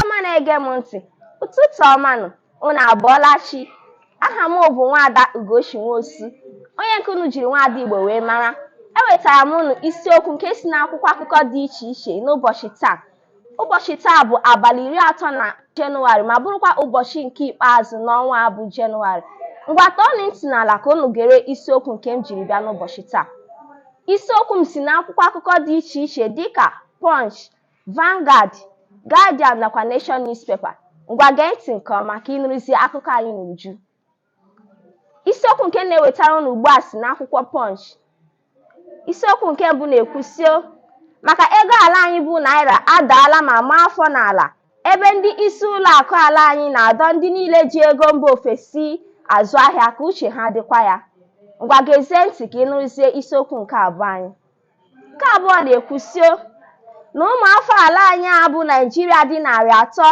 ọma na-ege m ntị ụtụtụ ọma nụ unu abọọla chi aha m bụ nwaada ugochi nwosu onye nke unu jiri nwaada igbo wee mara ewetara m unu isiokwu nke si n'akwụkwọ akụkọ dị iche iche n'ụbọchị taa Ụbọchị taa bụ abalị iri atọ na Jenụwarị ma bụrụkwa ụbọchị nke ikpeazụ n'ọnwa a bụ Jenụwarị. Ngwa tọọnụ ntị n'ala ka unu gere isiokwu nke m jiri bịa n'ụbọchị taa. Isiokwu m si n'akwụkwọ akụkọ dị iche iche dịka Punch, Vanguard, Guardian nakwa Nation newspaper. Ngwa gee ntị nke ọma ka ị nụrụzie akụkọ anyị n'uju. isiokwu nke na-ewetara ụnụ ugbu a si n'akwụkwọ Punch isiokwu nke mbụ na-ekwusio maka ego ala anyị bụ naira adaala ma maa afọ n'ala ebe ndị isi ụlọ akụ ala anyị na-adọ ndị niile ji ego mba ofesi azụ ahịa ka uche ha dịkwa ya ngwa gezie ntị ka ị nụrụzie isiokwu nke abụọ anyị Nke abụọ na-ekwusio na ụmụ afọ ala anyị a bụ Naịjirịa dị narị atọ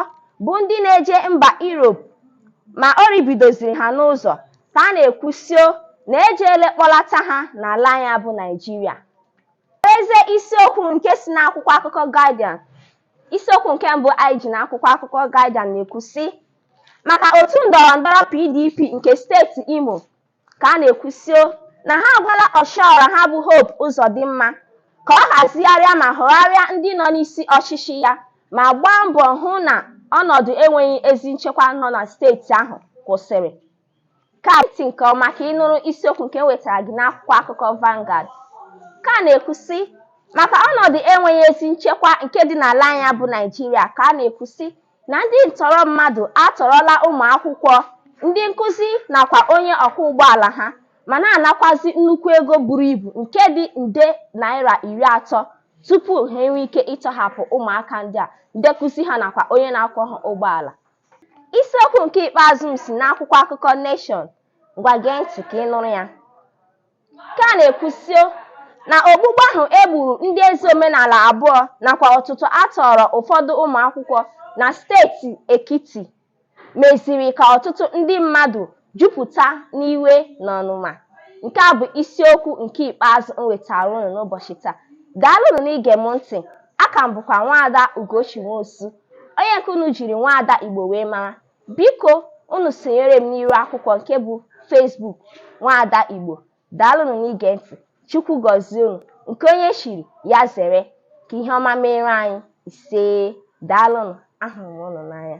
bụ ndị na-eje mba Europe ma o ribidoziri ha n'ụzọ ka a na-ekwusio na e jeele kpọlata ha n'ala anyị bụ Naịjirịa. Gezie isiokwu nke si n'akwụkwọ akụkọ Guardian isiokwu nke mbụ anyị ji n'akwụkwọ akụkọ Guardian na-ekwu sị maka otu ndọrọndọrọ PDP nke steeti Imo ka a na-ekwusio na ha agwala ọchịọra ha bụ Hope Uzodimma ka ọ hazigharịa ma họgharịa ndị nọ n'isi ọchịchị ya ma gbaa mbọ hụ na ọnọdụ enweghị ezi nchekwa nọ na steeti ahụ kwụsịrị. Gee ntị nke ọma ka ị nụrụ isiokwu nke m wetara gị n'akwụkwọ akụkọ Vanguard. Ka a na-ekwusị maka ọnọdụ enweghị ezi nchekwa nke dị n'ala anyị bụ Naịjirịa ka a na-ekwusị na ndị ntọrọ mmadụ atọrọla ụmụakwụkwọ, ndị nkụzi nakwa onye ọkwọ ụgbọala ha ma na-anakwazị nnukwu ego buru ibu nke dị nde naịra iri atọ tupu ha enwee ike ịtọhapụ ụmụaka ndị a, ndị nkụzi ha nakwa onye na-akwọ ha ụgbọala. Isiokwu nke ikpeazụ m si n'akwụkwọ akụkọ Nation. Ngwa gee ntị ka ị nụrụ ya. Nke a na-ekwusio na ogbugbu ahụ e gburu ndị eze omenala abụọ nakwa ọtụtọ a tọọrọ ụfọdụ ụmụakwụkwọ na steeti Ekiti meziri ka ọtụtụ ndị mmadụ jupụta n'iwe na ọnụma. Nke a bụ isiokwu nke ikpeazụ m wetaara unu n'ụbọchị taa. Daalụnụ n'ige m ntị. Aka m bụkwa Nwaada Ugochi Nwosu, onye nke unu jiri Nwaada Igbo wee mara. Biko unu sonyere m n'iru akwụkwọ nke bụ Facebook Nwaada Igbo. Daalụnụ n'ige ntị. Chukwu gọzie unu. Nke onye chiri, ya zere. Ka ihe ọma meere anyị. Isee. Daalụnụ. Ahụrụ m unu n'anya.